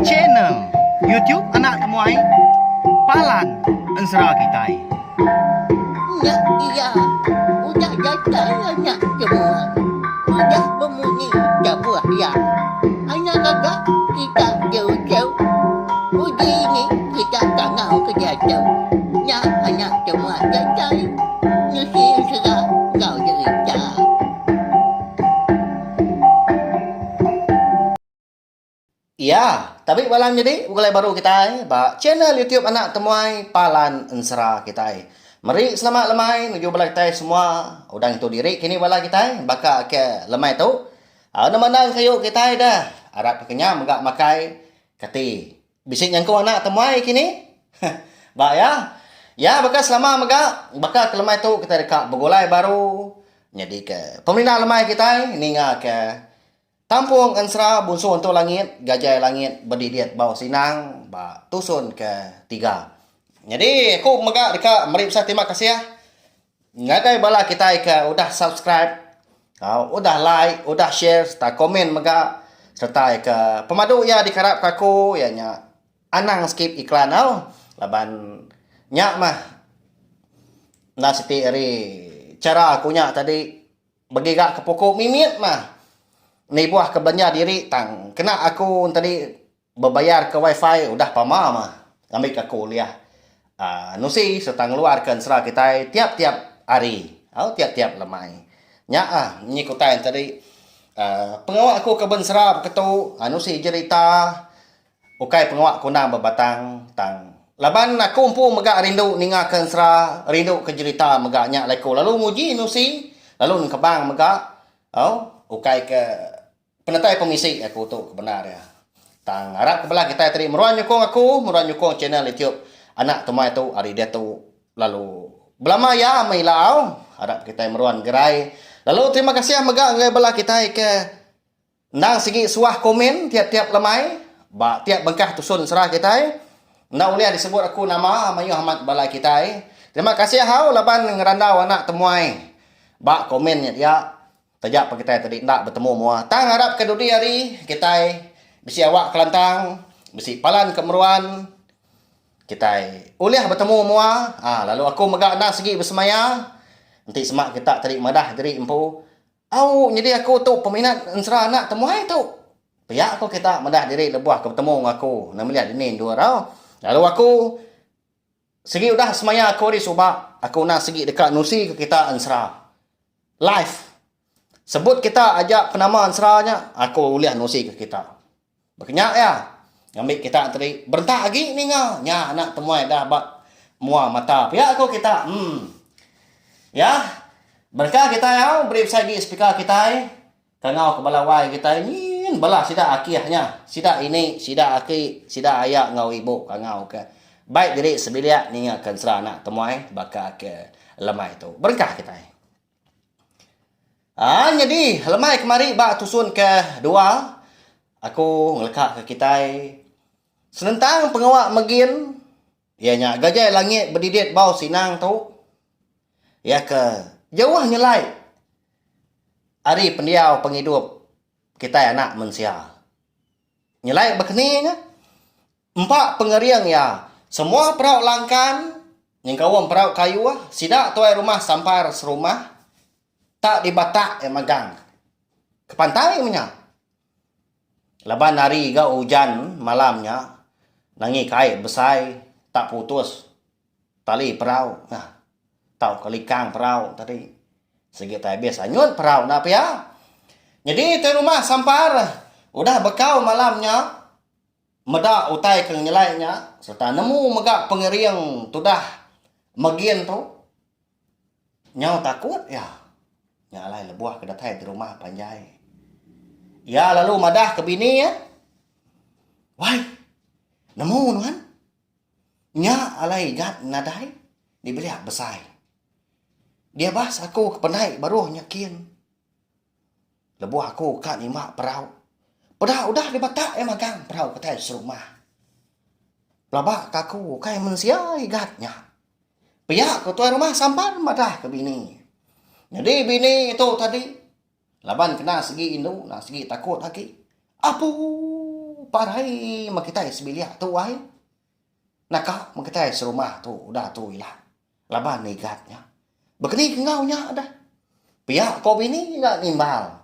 Channel YouTube anak temuai Palan Ensera kitai. Nya iya udah datai anak temuai. Udah bemunyi tabuh iya. Anak gaga kita diuchau. Uji ini kita tangau ke diatu. Nya anak temuai datai nusi ensera enggau derita. Iya, tabi bala nyadi begulai baru kitai ba channel YouTube anak temuai Palan Ensera kitai. Meri selamat lemai nuju bala kitai semua udah ngintu diri kini bala kitai baka ke lemai tu. Au nama enda engkayu kitai deh arap ke kenyam mega makai kati. Bisi nyangkung anak temuai kini. Heh ba iya. Iya baka selama mega baka ke lemai tu kitai deka begulai baru nyadika pemindah lemai kitai ninga ke. Tampung Ensra Bunsu Entu Langit, Gajai Langit bedidit bau Sinang ba tusun ke tiga. Nyadi aku mega deka meri pesan terima kasih ngagai bala kitai ke udah subscribe, udah like, udah share sereta komen mega sereta ke pemadu iya dikarapka aku iya nya anang skip iklan au laban nya mah enda siti ari chara aku nya tadi. Begiga ke puku mimit mah nibuh ke belanja diri tang kena aku tadi bebayar ke wifi udah pama mah ngambi ke aku ulih nusi serta ngeluar ke ensera kitai tiap tiap hari au tiap tiap lemai nya a nyi ke utai tadi pengawa aku ke ensera beketu nusi jerita. Ukai pengawa kundang bebatang tang. Laban aku empu mega rindu ninga ke ensera rindu ke jerita mega nya alai ku lalu nguji nusi lalu nengkebang mega au ukai ke penetai pemisi aku tu ke bendar iya. Tang arap ke bela kitai tadi meruan nyukung aku meruan nyukung channel YouTube anak tumai tu ari diatu lalu belama iya meh ila au arap kitai meruan gerai lalu terima kasih mega ngagai bala kitai ke Endang sigi suah komen tiap-tiap lemai ba tiap bengkah tusun sera kitai. Enda ulih disebut aku nama mayuh amat balai kitai. Terima kasih hau laban ngerandau anak temuai ba komen nya dia. Taja pah kitai tadi enda betemu mua tang ngarap ke dudi hari kitai bisi awak kelantang, bisi palan ke meruan kitai ulih betemu mua lalu aku mega endang sigi besemaya enti sema kita tadi madah diri empu Au nyadi aku tu peminat ensera anak temuai tu. Pia ko kita meda diri lebuh ke betemu enggau aku enda meli dini endur au. Lalu aku sigi udah semaya aku ari suba aku enda sigi deka nusi ke kita ensera. Live. Sebut kita aja penama ensera nya aku ulih nusi ke kita. Baka nya iya ngambi kita tadi berentak agi ninga nya anak temuai dah ba mua mata pia ko kita emm iya berengkah kita au beri besai agi speaker kitai ka ngau ka bala wai kitai nyin bala sida akih nya sida ini sida aki sida aya enggau ibu ka ngau ka bai diri sebilik ninga ka ensera anak temuai baka ke lemai tu berengkah kitai. Aa nyadi lemai kemari ba tusun ke dua aku ngeleka ke kitai senentang pengawa megin iya nya gajai langit bedidit bau sinang tu iya ke jauh nyelai ari pendiau pengidup kitai anak mensia nyelai bekeninga. Empa pengering iya, semua perau langkan nyengkaum perau kayu sida tuai rumah sampar serumah tak dibatak iya magang ke pantai menya laban hari ga ujan malam nya nanggi kai besai tak putus tali perau nah tauka likang perau tadi sigi tai abis anyut perau enda pia nyadi tuai rumah sampar udah bekau malam nya. Meda utai ke ngenyelai nya sereta nemu mega pengering tudah Mergin tu nyau takut iya nya alai lebuh ke datai di rumah panjai. Iya lalu madah ke bini iya, Wai, nemu nuan? Nya alai igat nadai dibelia besai. Diabas aku ke penai baruh nya kin. Lebuh aku ka nima perau. Peda udah dibatak iya magang perau kitai serumah. Pelaba ka aku ukai mensia igat nya. Pia ku tuai rumah sampan madah ke bini. Nyadi bini tu tadi laban kena segi indu enggau segi takut agi. Apu parai meh kitai sebilik tu ai. Naka meh kitai serumah tu udah tu ila. Laban nigat nya. Bekeni ke enggau nya deh. Pia ko bini ga nimbal.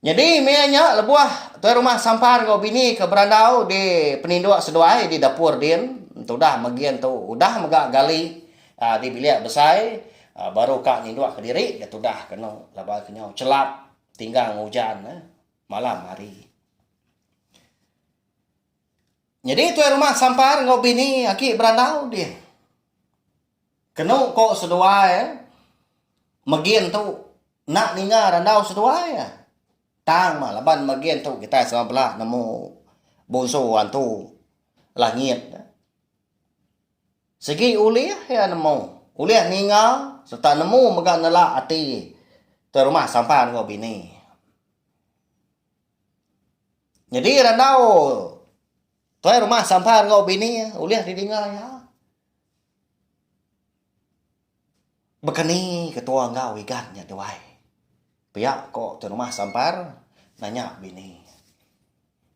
Nyadi meh nya lebuh tuai rumah sampar enggau bini ke berandau di peninduk seduai di dapur din tudah megi antu udah mega gali aaa di bilik besai aaa baru ka ninduk kediri ga tudah ke anu laban ke nyau chelap tinggang ujan malam hari. Nyadi tuai rumah sampar enggau bini agi berandau dih. Kenu ko seduai megin tu enda ninga randau seduai tang mah laban megin tu kitai sama bela nemu bonso antu langit sigi ulih iya nemu ulih ninga serta nemu mega nela ati tuai rumah sampar enggau bini. Nyadi randau tuai rumah Sampan enggau bini iya ulih didinga iya. Baka ni ketua enggau Igan nya duai. Pia ko tuai rumah Sampan nanya bini iya.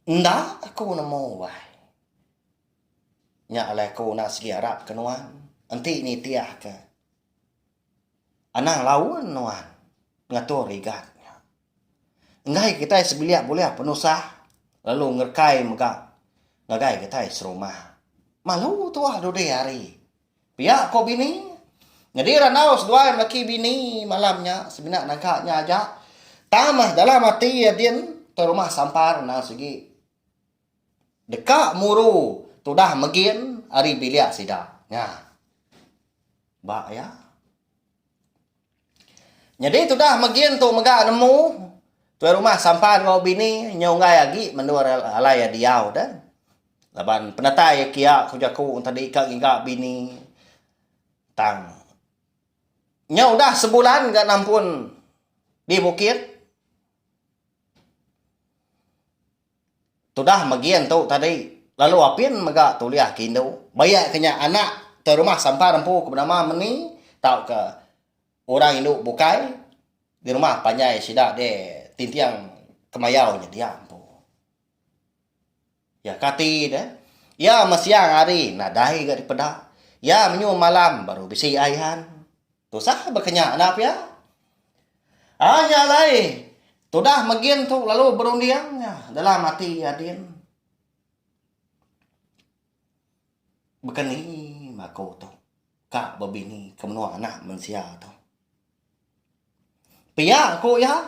Enda aku nemu wai. Nya alai aku enda sigi arap ke nuan. Enti nitih ka. Anang laun nuan ngatur rigat nya. Enggai kitai sebilik bulih penusah lalu ngerekai mega ngagai kitai serumah. Malu tuah dudi hari. Pia ko bini. Nyadi randau seduai melaki bini malam nya semina naga nya aja. Tang meh dalam ati iya din tau rumah sampar endang sigi. Deka muru tudah megin ari bilik sida. Nya. Ba iya. Nyadi tudah megin tu mega nemu tuai rumah sampan enggau bini nya unggai agi mendur alai iya diau deh. Laban penatai iya kia ku jaku tadi ka ngiga bini tang nya udah sebulan ga nampun di bukit. Tudah megi antu tadi lalu apin mega tulih ke indu. Bayak ke nya anak te rumah sampar empu ke benama meni tauka orang indu bukai di rumah panjai sida deh tinting kemayau nya dia empu. Iya kati deh iya meh siang hari nadai ga dipeda. Iya menyuh malam baru bisi ai han. Tusah berkenya enda pia. Ai nya alai tudah megin tu lalu berunding nya dalam ati adin. Bekeni bako tu ka bebini ke menua anak mensia tu. Pia ku iya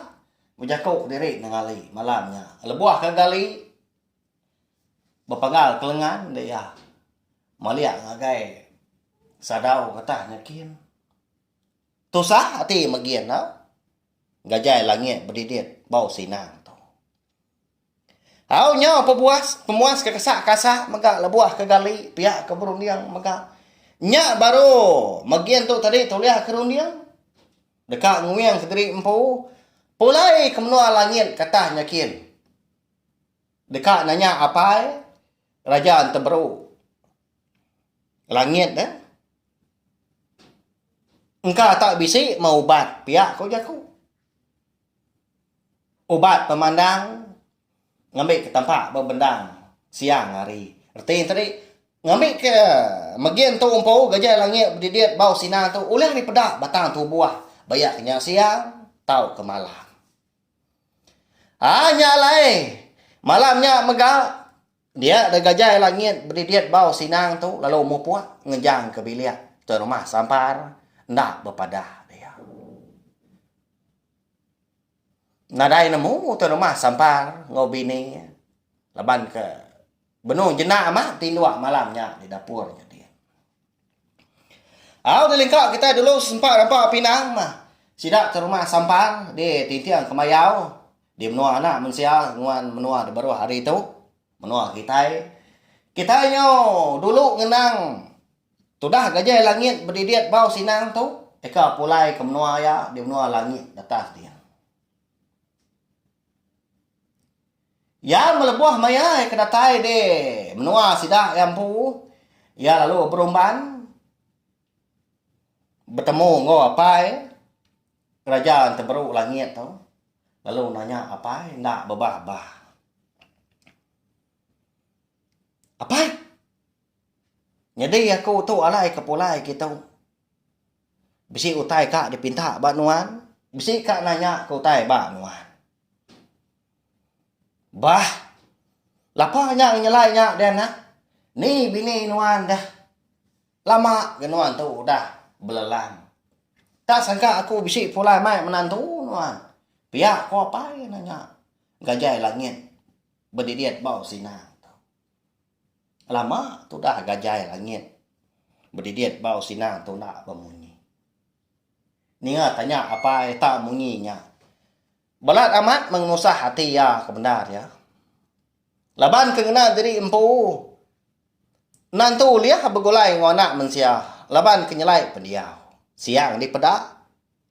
bejako diri nengali malam nya lebuh ka gali Bepagal ke lengan dek iya. Malik ngagai sadau getah nya kin. Tusah ati megin tau. Gajai langit bedidit bau sinang tu. Au nyau pebuas pemuas ke kesa kasa mega lebuh ke gali pia ke berunding mega. Nya baru megin tu tadi tulih ke runding. Deka nguing kediri empu. Pulai ke menua langit getah nya kin. Deka nanya apai raja enteberu langit ne engka tak bisi meh ubat pia ku jaku. Ubat pemandang ngembi ke tampa ba bendang siang hari reti enti tadi ngembi ke megi entu empu geji langit bedidit bau sinar tu ulih dipeda batang tubuh bayak ke nya siang tauka malam. Haa nya alai. Malam nya mega dia deh gajai langit bedidit bau sinang tu lalu mupuk ngejang ke bilik Tuan Rumah Sampar enda bepadah dia. Nadai nemu Tuan Rumah Sampar enggau bini laban ke. Benung jena ama tinduk malam nya di dapur nya di. Au di lingkau kitai dulu sempa rampa pinang mah. Sida ke rumah sampang di tinting kemayau di menua anak mensia nguan menua di baruh hari tu. Menua kitai. Kitai nyau dulu ngenang tudah gajai langit bedidit bau sinang tu eka pulai ke menua iya di menua langit di atas dia. Iya melebuh maya iya ke datai di menua sida iya empu. Iya lalu berumban betemu enggau apai Raja Enteberu Langit tu lalu nanya apai enda bebah-bah. Apai, nyadi aku tu alai ke pulai kitu. Bisi utai ka dipinta ba nuan, bisi ka nanya ke utai ba nuan. Bah. Lapa nya ngelai nya deh anak. Ni bini nuan deh. Lama ke nuan tu udah belelan. Tak sangka aku bisi pulai mai menantu nuan. Pia ko apai eno nya gajai langit bedidit bau sinang. Lama tudah gajai langit bedidit bau sinang tu enda bemunyi. Ninga tanya apai tak munyi nya. Balat amat mengenusah ati iya ke bendar iya. Laban ke ngena diri empu endang tu ulih begulai enggau anak mensia laban ke nyelai pendiau. Siang dipeda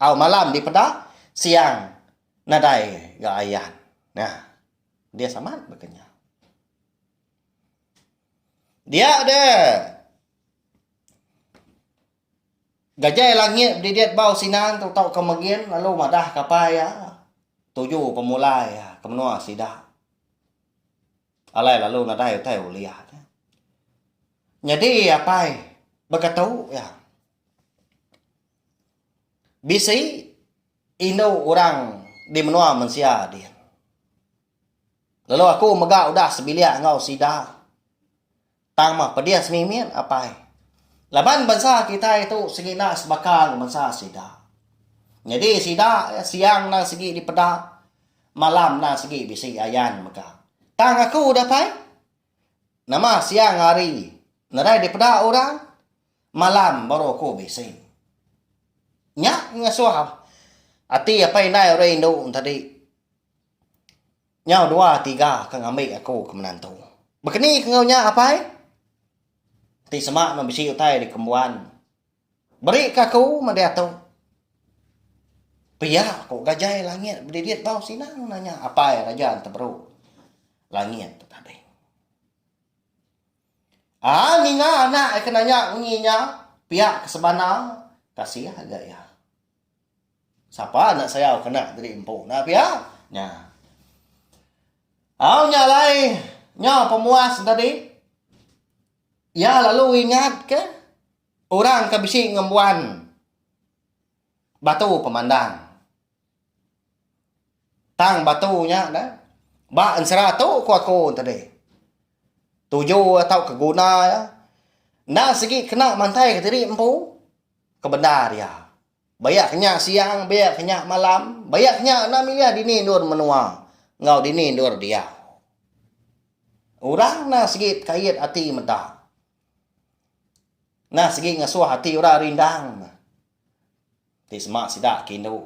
au malam dipeda siang nadai ga ayan. Nah. Pedis amat baka nya. Dia deh. Gajai langit bedidit bau sinan tu tauka megin lalu madah kapai iya tuju pemulai iya ke menua sida. Alai lalu nadai utai ulih tu. Nyadi apai beketu iya. Bisi indu orang di menua mensia dian. Lalu aku mega udah sebilik enggau sida. Tang meh pedis mimit apai. Laban bansa kitai tu sengina sebaka enggau bansa sida. Nyadi sida iya siang endang sigi dipeda, malam endang sigi bisi ayan mega. Tang aku udah pai. Nama siang hari nadai dipeda orang, malam baru aku bisi. Nya ngasuh ati apai indai orang indu tadi. Nyau dua tiga ke ngambi aku ke menantu. Bekeni ke enggau nya apai. Ti sema ne bisi utai dikembuan. Beri ke aku meh diatu. Pia ku gajai langit bedidit bau sinang nanya apai raja enti beru langit tu tadi. Aa ninga anak ke nanya munyi nya pia ke sebana kasih ga iya. Sapa anak sayau kena jadi empu enda pia nya. Au nya alai nyau pemuas enda di iya lalu ingat ke orang ke bisi ngembuan batu pemandang tang batu nya ne ba ensera tu ku aku tadi tuju iya tau ke guna iya enda sigi kena mantai ke diri empu. Kebendar iya, baya ke nya siang, baya ke nya malam, baya ke nya enda milih dini endur menua enggau dini endur diau. Orang enda sigi tekait ati meda. Enda sigi ngesuh ati orang rindang ti sema sida ke indu.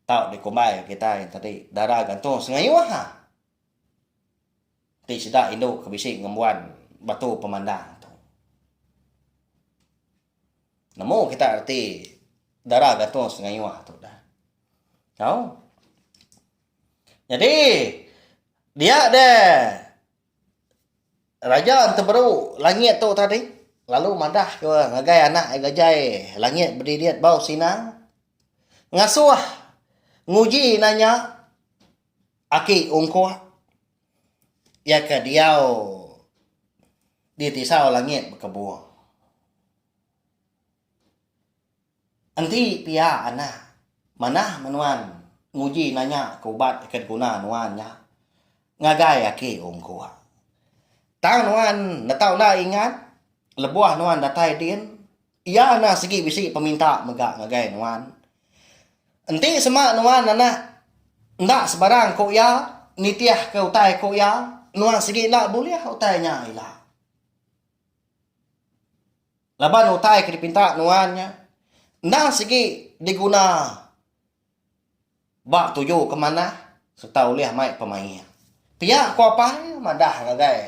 Tau dikumbai kitai tadi, dara gantung sengayuh. Ti sida indu ke bisi ngembuan batu pemandang tu. Nemu kita reti dara gantung sengayuh tu dah. Tau? Nyadi, dia de Raja Enteberu Langit tu tadi lalu madah ke ngagai anak iya gajai langit bedidit bau sinang ngasuh nguji nanya Aki Ungkuh iya ke diau di tisau langit bekebung. Enti pia anak manah meh nuan nguji nanya ke ubat ke diguna nuan nya ngagai Aki Ungkuh. Tang nuan netau enda ingat lebuh nuan datai din. Iya enda sigi bisi peminta mega ngagai nuan. Enti sema nuan anak enda sebarang ku iya nitihka utai ku iya, nuan sigi enda bulih utai nya ila. Laban utai ke dipinta nuan nya enda sigi diguna. Ba tuju ke manah sereta ulih mai pemaik. Pia ku apai madah ngagai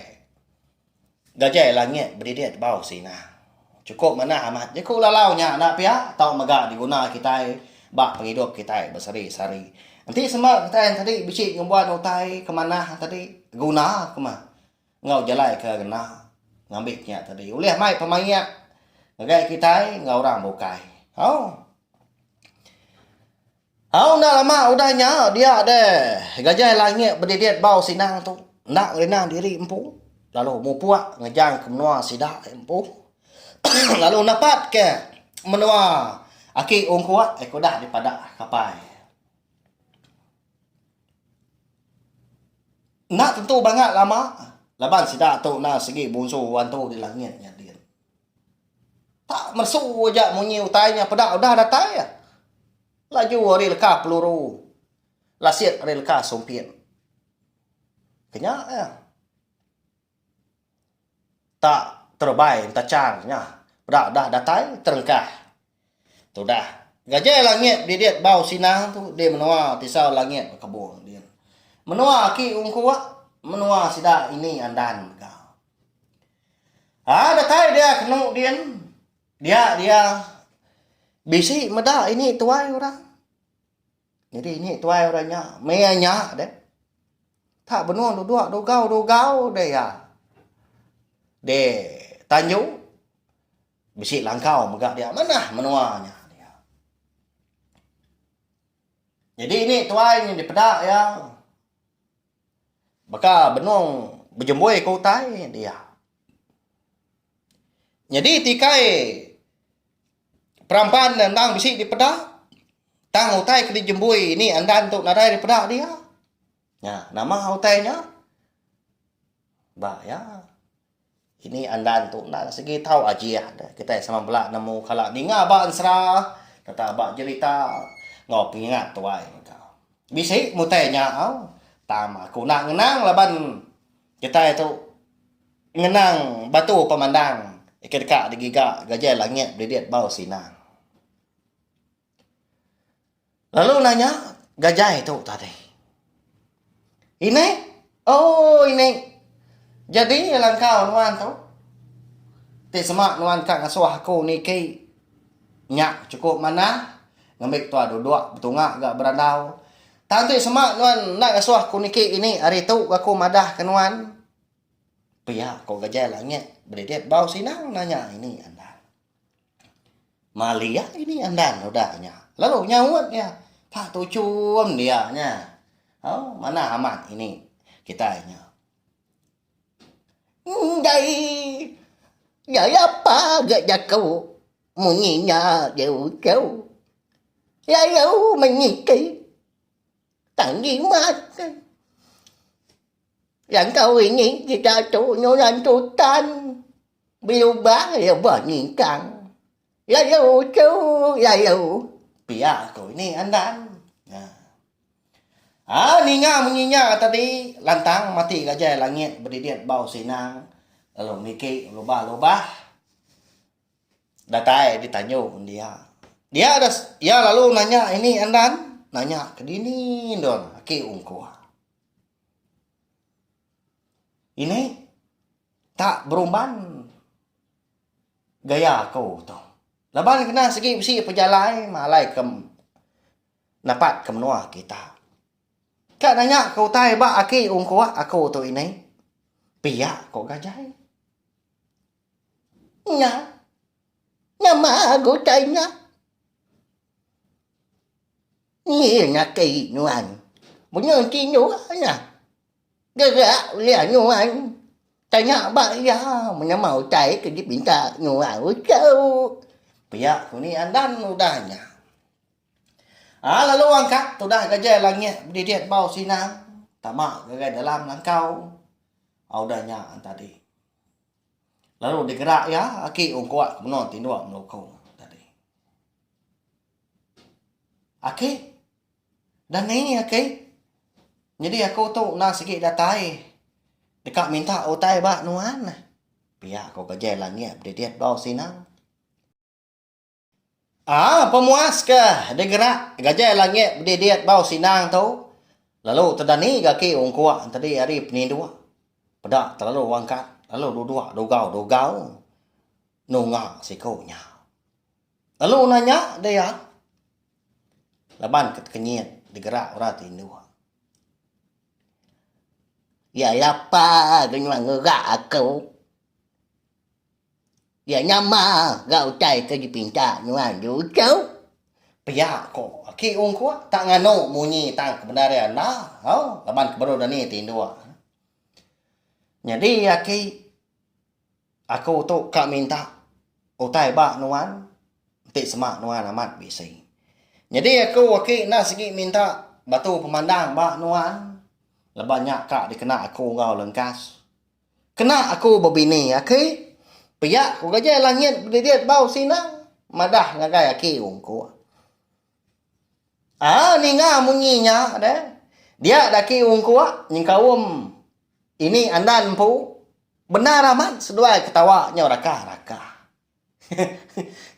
gajai langit bedidit bau sina. Chukup manah amat jeku lalau nya enda pia tau mega diguna kitai ba pengidup kitai besehari-sehari. Enti sema kitai enti bisi nyumban utai ke manah tadi guna kuma. enggau jalai ke ngena ngambi nya tadi ulih mai pemaik ngagai kitai enggau orang bukai. Hau. Hau enda lama udah nya dia deh gajai langit bedidit bau sindang tu enda ngerinang diri empu lalu mupuk ngejang ke menua sida empu lalu napat ke menua aki ungkuk eh kudah dipada kapai. Enda tentu banga lama laban sida tu enda sigi munsu antu di langit nya din. Tak mesu aja munyi utai nya peda udah datai. Laju ari leka peluru lasik ari leka sumpit. Kenya iya. Tak terebai entachar nya peda udah datai terengkah. Tudah ngajai langit didit bau sinang tu di menua tisau langit bekebong din. Menua aki ungkuak menua sida ini andan mega. Haa datai dia kenu din dia dia bisi meda ini tuai orang. Nyadi nyi tuai orang nya meh iya nya deh. Tak benung duduk dugau-dugau deh iya. De tanju bisi langkau mega dia manah menua nya. Nyadi ni tuai nyi dipeda iya baka benung bejembui ke utai dia. Nyadi tikai. Peramban ne endang bisi dipeda tang utai ke dijembui ini andan tu nadai dipeda dia. Nya nama utai nya? Ba iya ini andan tu endang sigi tau ajih ne kitai sama bala nemu kala ninga ba ensera sereta ba jerita enggau pengingat tuai mega. Bisi mutai nya au tang aku enda ngenang laban. Kitai tu ngenang batu pemandang ke deka digiga gajai langit belidik bau sinang. Lalu nanya gajai tu tadi. Ini? Oh, ini. Jadi langkau nuan tu. Ti semak nuan ka ngasuh aku niki. Nya cukup manah. Ngambi tua duduk betunga ga berandau. Tang ti sema nuan enda ngasuh aku niki ini hari tu aku madah ke nuan? Pia ko Gajai Langit bedidit bau sinang nanya ini andan. Malia ini andan udah nya lalu nyaut iya pa tuchum dia nya. Au manah amat ini kitai nya. Enggai. Nya iya pa ga jaku munyi nya deh uchu. Lalu menyikei tang jimat neh. Langkau ini ji datu nurang tutan belubang lebah ningkang. Yayu tu yayu pia aku ini andan nya. A ninga munyi nya tadi lantang mati gajai langit bedidit bau sinang lalu niki lubah-lubah datai di tanjung dia. Dia iya lalu nanya ini andan nanya ke dini endur aki ungkuh. Ini. Tak berumban gaya aku tu. Laban kena segi bisi pejalai malai ke napat ke menua kita. Ka nanya ke utai ba aki ungkuak aku tu ini, pia ko gajai. Nya. Nama utai nya? Nyi nya kei nuan. Menyun ti nuan nya. Gaga uliang nyuai tanya ba iya menema utai ke dipinta nyuai uchu. Pia ku ni andan udah nya. Aa lalu angkat tudah gajai langit bedidit bau sinang tama ngagai dalam langkau a udah nya tadi. Lalu digerak iya aki ungkup ke menua tinduk melukong tadi. Aki. Dani aki, nyadi aku tu enda sigi datai deka minta utai ba nuan. Pia ku Kejai Langit bedidit bau sinang. Aa pemuas ke digerak Kejai Langit bedidit bau sinang tu lalu tu Dani gaki ungkuk tadi ari peninduk peda telalu wangkat lalu duduk dugau-dugau nunga siku nya. Lalu udah nya deh iya laban ke tekenyit digerak orang ti indu. Iya lapa ga nyuai ngerak aku. Iya nyama ga utai ke dipinta nyuai endu tou. Pia ko aki ung ko tak nganu munyi tang ke bendar iya enda au laban ke baru dini ti indu. Nyadi aki. Aku tu ka minta utai ba nuan enti sema nuan amat bisi. Nyadi aku aki enda sigi minta batu pemandang ba nuan laban nya ka dikena aku enggau lengkas. Kena aku bebini aki pia ku gajai langit bedidit bau sina madah ngagai aki ungkup. Aa ninga munyi nya deh. Dia daki ungkuk nyengkaum ini andan empu. Bendar amat seduai ketawa nyau raka raka.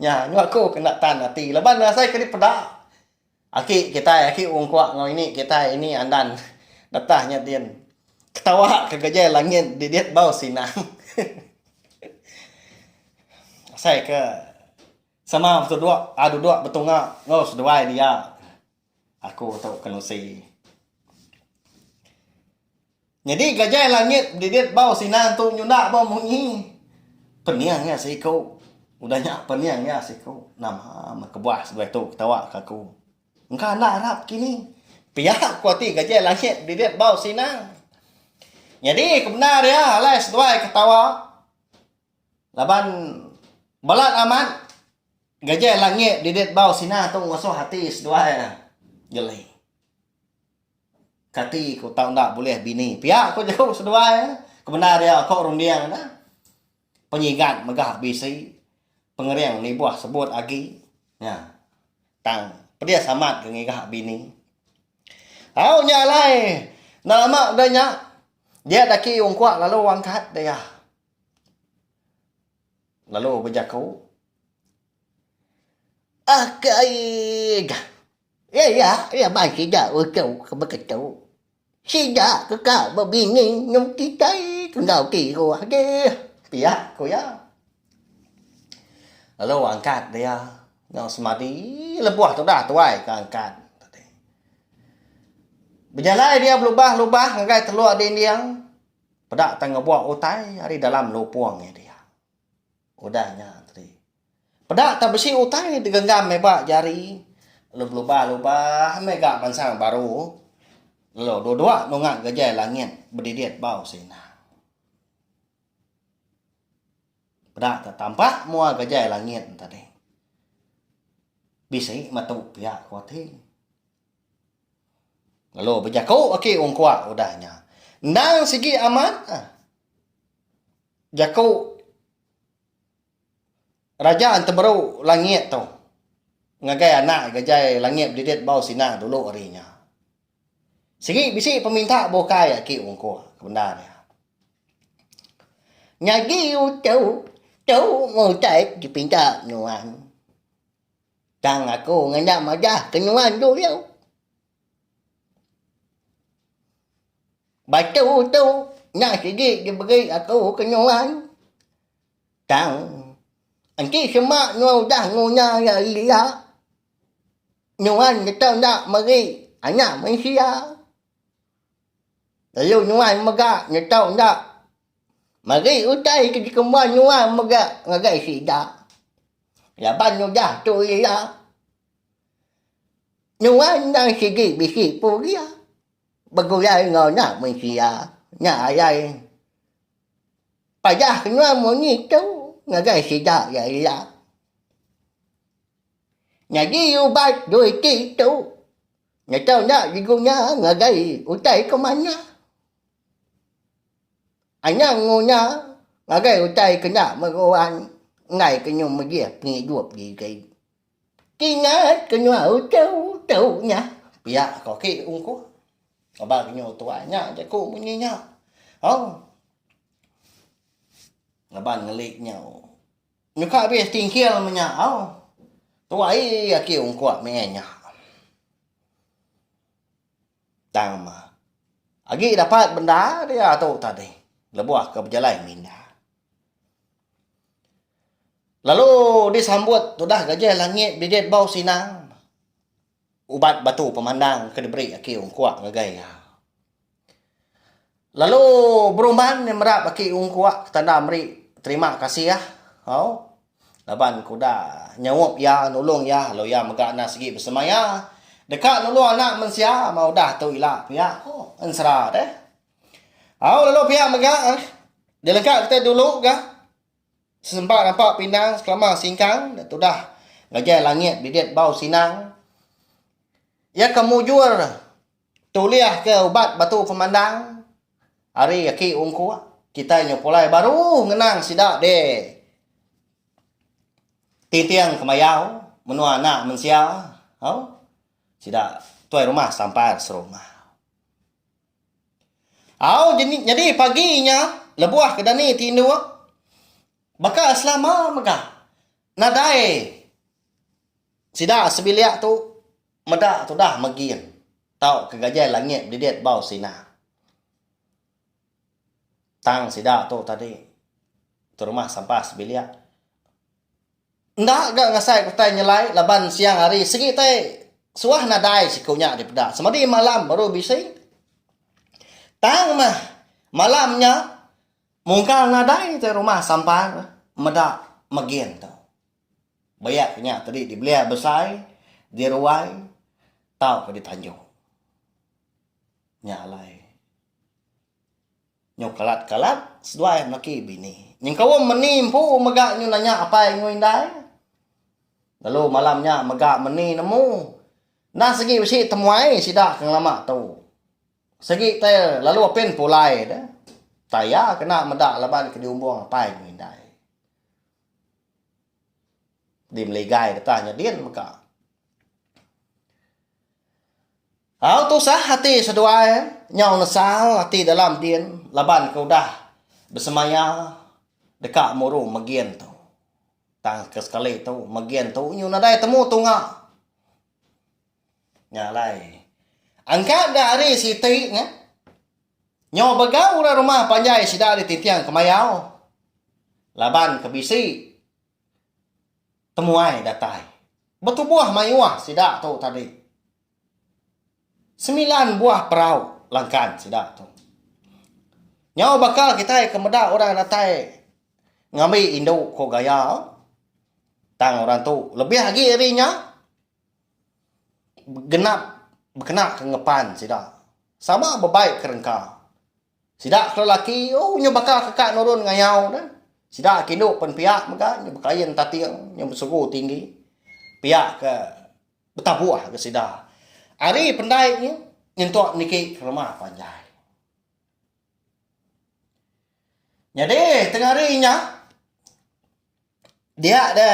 nya nyau aku ke enda tan ati laban nasai ke dipeda aki kitai aki ungkuk enggau ini kitai ini andan betah nya din. Ketawa ke gejai langit didit bau sinang. Asai ke. Sama betuduk a duduk betunga enggau seduai dia aku tu kenusi. Nyadi gajai langit bedidit bau sina entu nyunda bau munyi. Pening iya siku. Udah nya pening iya siku. Nama meh kebuah seduai tu ketawa ke aku. Engka enda arap kini. Pia ku ati gajai langit bedidit bau sina. Nyadi ke bendar iya alai seduai ketawa. Laban balat amat gajai langit didit bau sina tu ngusoh ati seduai geli. Kati ku tau enda bulih bini pia ku jeku seduai kebendar iya ko runding nya. Penyigat mega bisi pengering nibuh sebut agi nya tang pedis amat ke ngiga bini. Au nya alai nama udah nya dia dak agi ungkuk lalu angkat dia. Lalu bejaku, Akaig! Iya iya bai sida uchu ke beketu. Sida ke ka bebini nyau kitai ke enggau ti iruh deh. Pia ku iya. Lalu angkat dia enggau semadi lebuh tudah tuai ke angkat. Bejalai dia belubah-lubah ngagai teluk dinding. Peda tang ngebuak utai ari dalam lupung iya dia. Udah nya tadi. Peda tang besi utai digenggam meba jari lalu belubah-lubah mega mansang baru lalu dua-dua nunga gejai langit bedidit bau sina. Peda tang tampa mua gejai langit tadi. Bisi metu pia ko ti. Lalu bejaku aki ungkua udah nya, Endang sigi amat jaku Raja Entemeru Langit tu ngagai anak gajai langit bedidit bau sina dulu ari nya. Sigi bisi peminta bukai aki ungkua ke bendar iya. Nyadi utu tu mutai dipinta nuan. Tang aku ngena madah ke nuan dulu. Batu tu nya sigi diberi aku ke nuan. Tang enti sema nuan udah nguna iya ila, nuan neta enda meri Anak Mensia. Lalu nuan mega nyetok enda meri utai ke dikembuan nuan mega ngagai sida. Laban udah tu ila, nuan endang sigi bisi pun iya begulai enggau enda mensia. Nya alai padah nuan munyi tu ngagai sida iya ila. Nyadi ubat dua iti tu. Ngetau enda digu nya ngagai utai ke manah. Anang engu nya ngagai utai ke enda meruan enggai ke nyum megih pengidup diri. Kingat ke nyau tu-tu nya pia ke agi ungkup aba ke nyau tuai nya jaku munyi nya. Au. Laban ngeli nyau. Nyuka abis tingkil menya au. Tuai aki ungkuk mih nya. Tang ma. Agi dapat benda dia tu tadi. Lebuh ke bejalai minda. Lalu disambut tudah gajah langit bibit bau sinang. Ubat batu pemandang ke diberi aki Ong Kuak ngagai iya. Lalu Berumban nya merap aki Ong Kuak ke tanda meri terima kasih au laban ke udah nyaup iya nulung iya lalu iya mega enda sigi besemaya deka nulung anak mensia meh udah tu ila pia ku ensera deh. Au lalu pia mega deh dilegaka kitai dulu ga. Sesempa nampak pinang sekelama singkang da tudah ngagai langit didit bau sinang. Iya ke mujur tulihka ubat batu pemandang. Ari aki ungkuk, kitai nyepulai baru ngenang sida deh tinting kemayau menua anak mensia. Au. Sida tuai rumah sampar serumah. Au jeni nyadi pagi inya lebuh ke dani ti indu baka selama mega nadai sida sebilik tu meda tudah megin tauka gajai langit bedidit bau sina. Tang sida tu tadi terumah sampah sebilik Enda ga ngasai ku tai nyelai laban siang hari sigi tai suah nadai siku nya dipeda semadi malam baru bisi. Tang mah malam nya mungkal nadai tai rumah sampan meda megin tu. Bayak nya tadi dibelia besai, diruai tauka ditanjung. Nya alai. Nyu kalat kalat seduai melaki bini. Nyengkaum meni empu mega nyu nanya apai enggau indai. Lalu malam nya mega meni nemu. Enda segi besi temuai sida ke ngelama tu. Segi te lalu apin pulai de. Utai iya kena meda laban ke diumbung apai enggau indai. Dimeligai deka nya din mega. Tau tusah ati seduai nyau nesal ati dalam din laban ke udah besemaya deka muru megin tu. Tang ke sekali tu megin tu nyu nadai temu tunga. Nya alai engka ga ari siti nya nyau begau orang rumah panjai sida ditinting kemayau laban ke bisi temuai datai betubuh mayuh sida tu tadi. Semilan buah perau langkan sida tu. Nyau baka kitai ke meda orang datai ngambi indu ko gaya tang orang tu lebih agi ari nya genap bekena ke ngepan sida sama bebai ke rengka. Sida ke lelaki u nyu baka ke ka nurun ngayau ne. Sida ke indu pen pia mega nyu bekain tating nyu besugu tinggi. Pia ke betabuh ke sida. Ari pendai nyu nyentuk niki ke rumah panjai. Nyadi tengah ari nya dia de.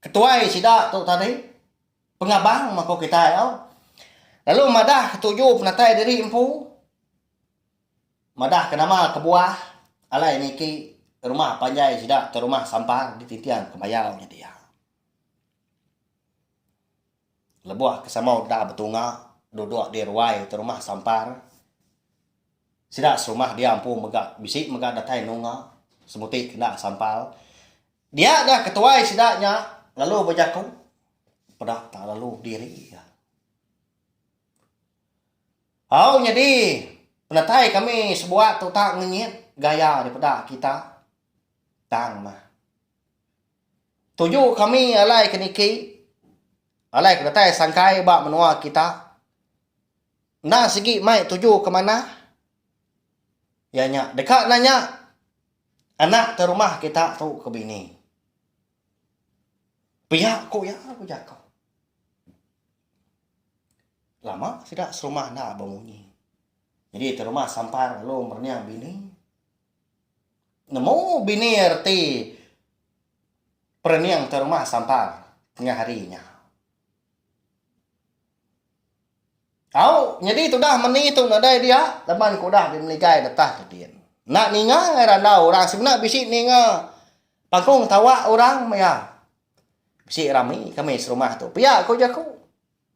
Ketuai sida tu tadi pengabang meh ko kitai tau lalu madah ketuju penatai diri empu madah ke nama kebuah alai niki rumah panjai sida ke rumah sampang di Tintiang Kemayau nya dia. Lebuh ke sama udah betunga duduk di ruai te rumah sampang sida serumah dia empu mega bisi mega datai nunga semuti kena sampal. Dia ga ketuai sida nya lalu bejaku peda tak lalu diri ga. Au nyadi penatai kami sebuat tu tak ngenyit gaya dipeda kita tang mah. Tuju kami alai ke niki alai ke datai sangkai ba menua kita enda sigi mai tuju ke manah iya nya deka nanya Anak ke rumah kita tu ke bini. Pia ku iya ku jaku. Lama sida serumah enda bemunyi. Nyadi ti rumah sampar lalu merenyah bini. Nemu bini reti perening ti rumah sampar tengah hari nya. Au, nyadi tudah meni tu nadai dia laban ke udah dimeligai detah tudin. Enda ninga angai randau orang semina bisi ninga pangkung tawa orang maya bisi rami kami serumah tu. Pia ku jaku.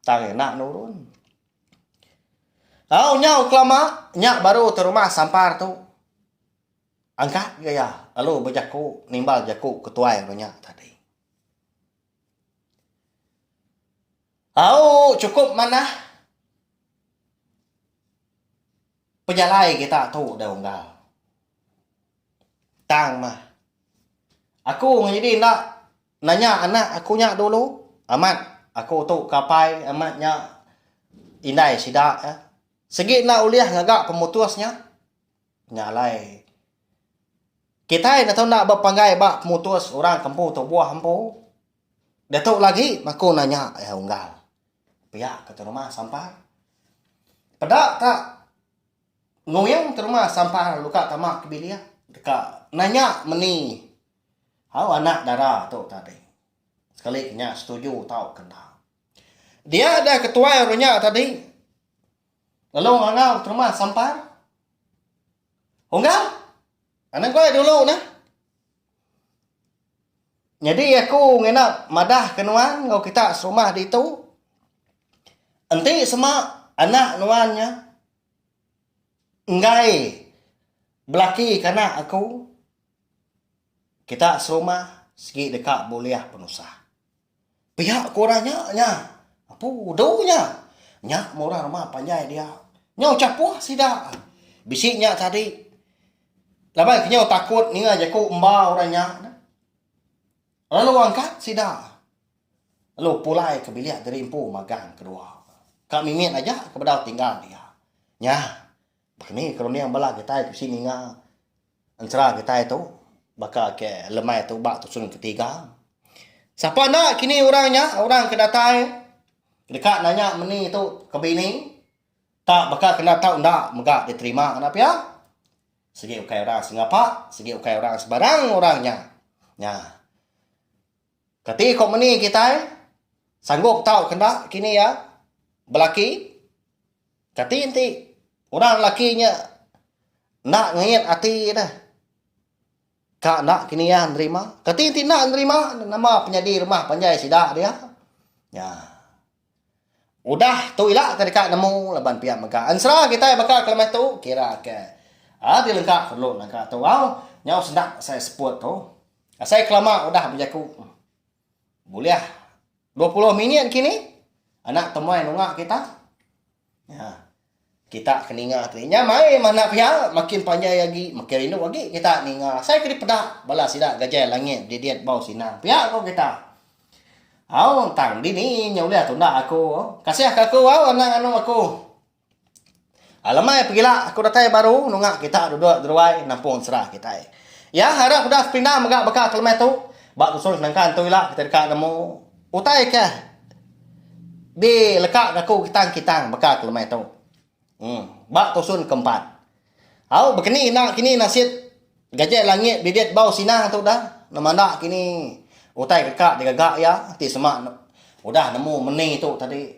Tang iya enda nurun. Au nyau kelama nya baru tu rumah sampar tu angkat gaya lalu bejaku nimbal jaku ketuai inya tadi. Au chukup manah pejalai kita tu udah unggal tang mah aku nyadi enda nanya anak aku nya dulu amat aku tu ke apai amat nya indai sida sigi enda ulih ngaga pemutus nya. Nya alai. Kitai netu enda bepanggai ba pemutus orang ke empu tubuh empu. Diatu lagi maku nanya iya unggal. Pia ke tu rumah sampar. Peda ka nguing tu rumah sampar lalu ka tama ke bilik deka nanya meni au anak dara tu tadi. Sekali ke nya setuju tauka enda. Dia deh ketuai orang nya tadi. Lalu ngangau terma sampar. Unggal? Anak gua dulu nah. Nyadi aku ngena madah ke nuan enggau kita serumah ditu. Enti sema anak nuan nya enggai belaki ke anak aku kita serumah sigi deka bulih penusah. Pia ku orang nya nya. Apu udu nya. Nya meh orang rumah panjai dia. Nyau chapuh sida. Bisi nya tadi. Laban ke nyau takut ninga jaku emba orang nya. Lalu angkat sida. Lalu pulai ke bilik diri empu magang ke dua. Ka mimit aja ke bedau tinggal dia. Nya. Pekeni ke runding bala kitai ke bisi ninga ensera kitai tu baka ke lemai tu ba tusun ketiga. Sapa enda kini orang nya orang ke datai deka nanya meni tu ke bini tak baka ke enda tau enda mega diterima ngena pia. Sigi ukai orang sengapa sigi ukai orang sebarang orang nya. Nya. Kati kompeni kitai sanggup tau kenda kini iya belaki? Kati enti orang lelaki nya enda ngait ati deh ka enda kini iya nerima? Kati enti enda nerima, nama penyadi rumah panjai sida dia? Nya. Udah tu ila ke deka nemu laban pia mega ensera kitai baka ke lemai tu kira ke a dilengka perlu naka tu au nyau senda asai sport tu asai kelama udah bejaku bulih dua puluh minit kini anak temuai nunga kita. Nya. Kita ke ninga tu. Inya mai manah pia, makin panjai agi, makin rindu agi kita ninga. Asai ke dipeda bala sida gajai langit bedidit bau sinang. Pia ko kita. Au, tang dini nya ulih tunda aku. Kasih ka aku au anang anu aku. Alemai pegila aku datai baru nunga kita duduk deruai nampung sera kitai. Iya harap udah sepindah mega baka ke lemai tu. Ba tusung senangka entu ila kita deka nemu. Utai ke di leka ngaku kitang-kitang baka ke lemai tu. Em. Ba tusun ke empat. Au bekeni enda kini nasit gajai langit bibit bau sinang tu udah nemanda kini utai deka digaga iya enti sema udah nemu meni tu tadi.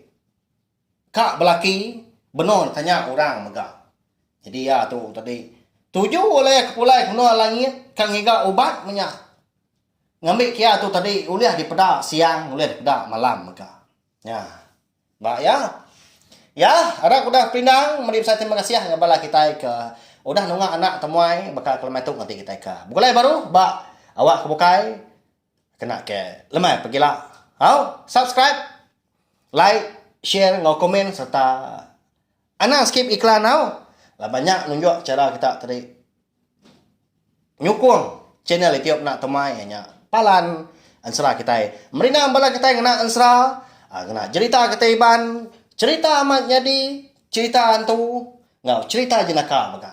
Ka belaki benung deka nya orang mega. Nyadi iya tu tadi tuju ulih ke pulai ke menua langit ka ngiga ubat menya ngambi ke iya tu tadi ulih dipeda siang ulih dipeda malam mega. Nya ba iya. Iya harap udah perindang meri besai terima kasih ngagai bala kitai ke udah nunga anak temuai baka ke lema tu ngati kitai ka begulai baru ba awak ke bukai. Kena ke lemai pegila. Au, subscribe, like, share enggau komen sereta anang skip iklan au. Laban nya nunjuk chara kita tadi nyukung channel itiu enda temai iya nya palan ensera kitai. Merindang bala kitai ngena ensera, ngena jerita kitai Iban, cherita amat nyadi, cherita hantu enggau cherita jenaka mega.